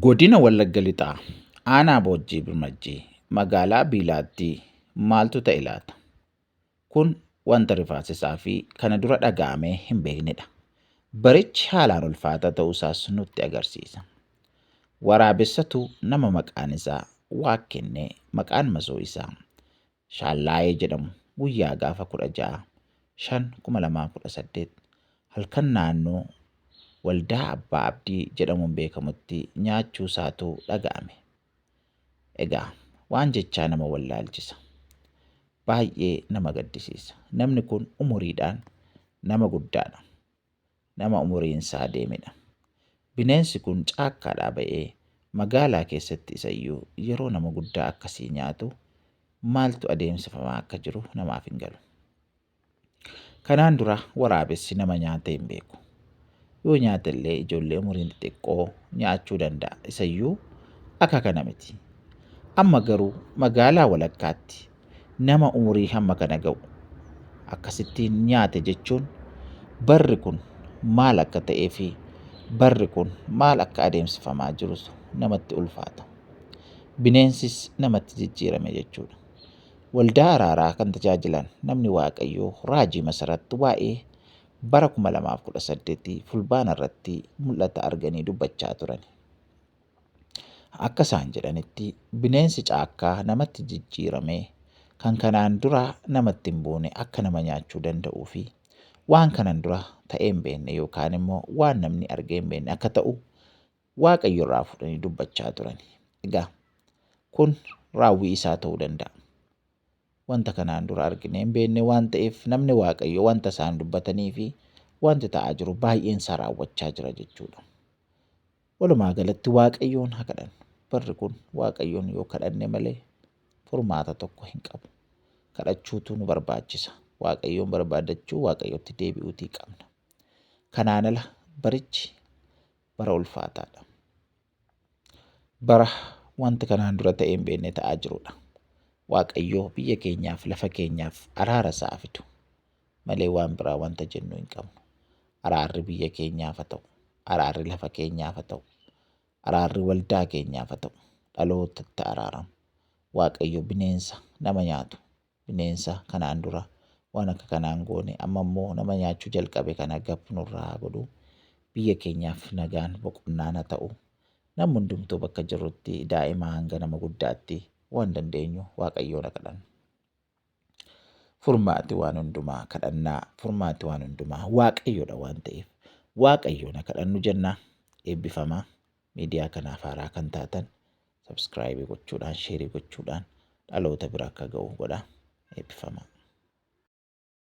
Godina Wallagga Lixaa aanaa Boojjii Birmajjii magaalaa Biilaattii maaltu ta'e laata? Kun wanta rifaasisaa fi kana dura dhaga'amee hin beeknedha. Barichi haalaan ulfaataa ta'uusaas nutti agarsiisa. Waraabessatu nama maqaan isaa waak kennee maqaan masoo isaa Shaallaayee jedhamu guyyaa gaafa 16, 5, 2018 halkan naannoo Waldaa Abbaa Abdii jedhamuun beekamutti nyaachuusaatu dhaga'ame. Egaa waan jechaa nama wallaalchisa. Baay'ee nama gaddisiisa. Namni kun umuriidhaan nama guddaadha. nama umuriinsaa deemedha. Bineensi kun caakkaadhaa ba'ee magaalaa keessatti isayyuu yeroo nama guddaa akkasii nyaatu maaltu adeemsifamaa akka jiru namaaf hin galu. Kanaan dura waraabessi nama nyaatee hin beeku. Yoo nyaate illee ijoollee umuriin xixiqqoo nyaachuu danda'a. Isayyuu akka kana miti. Amma garuu magaalaa walakkaatti nama umurii hamma kana ga'u akkasittiin nyaate jechuun barri kun maal akka ta'ee fi barri kun maal akka adeemsifamaa jirus namatti ulfaata. Bineensis namatti jijjiirame jechuudha. Waldaa araaraa kan tajaajilan namni Waaqayyoo Raajii Masaratti waa'ee bara 2018 fulbaana irratti mul'ata arganii dubbachaa turan. Akka isaan jedhanitti bineensi caakkaa namatti jijjiiramee kan kanaan dura namatti hin buune akka nama nyaachuu danda'uu fi waan kanan dura ta'ee hin beekne yookaan immoo waan namni argee hin beekne akka ta'u waaqayyo irraa fudhanii dubbachaa turan. Egaa kun raawwii isaa ta'uu danda'a. Wanta kanaan dura arginee hin beekne waan ta'eef namni waaqayyo wanta isaan dubbatanii fi wanti ta'aa jiru baay'een isaa raawwachaa jira jechuudha. Walumaa galatti Waaqayyoon ha kadhannu. Barri kun Waaqayyoon yoo kadhanne malee furmaata tokko hin qabu. Kadhachuutu nu barbaachisa. Waaqayyoon barbaadachuu Waaqayyotti deebi'uutii qabna. Kanaan ala barichi bara ulfaataadha. Bara wanti kanaan dura ta'ee hin beekne ta'aa jirudha. Waaqayyoo biyya keenyaaf lafa keenyaaf araara isaa fidu. malee waan biraa wanta jennu hin qabnu. Araarri biyya keenyaaf haa ta'u, araarri lafa keenyaaf haa ta'u, araarri waldaa keenyaaf haa ta'u, dhalootatti araaramu. Waaqayyo bineensa nama nyaatu, bineensa kanaan dura waan akka kanaan goone amma immoo nama nyaachuu jalqabe kana gab nurraa haa godhu. Biyya keenyaaf nagaan boqonnaan haa ta'u. Namni hundumtuu bakka jirrutti daa'imaa hanga nama guddaatti waan dandeenyu Waaqayyoon haa kadhannu. Furmaati waan hundumaa kadhannaa, furmaati waan hundumaa waaqayyoodha waan ta'eef waaqayyoon haa kadhannu jenna. Eebbifamaa miidiyaa kanaaf haaraa kan taatan sabskraayibii gochuudhaan, sheerii gochuudhaan dhaloota bira akka ga'u godha. Eebbifamaa.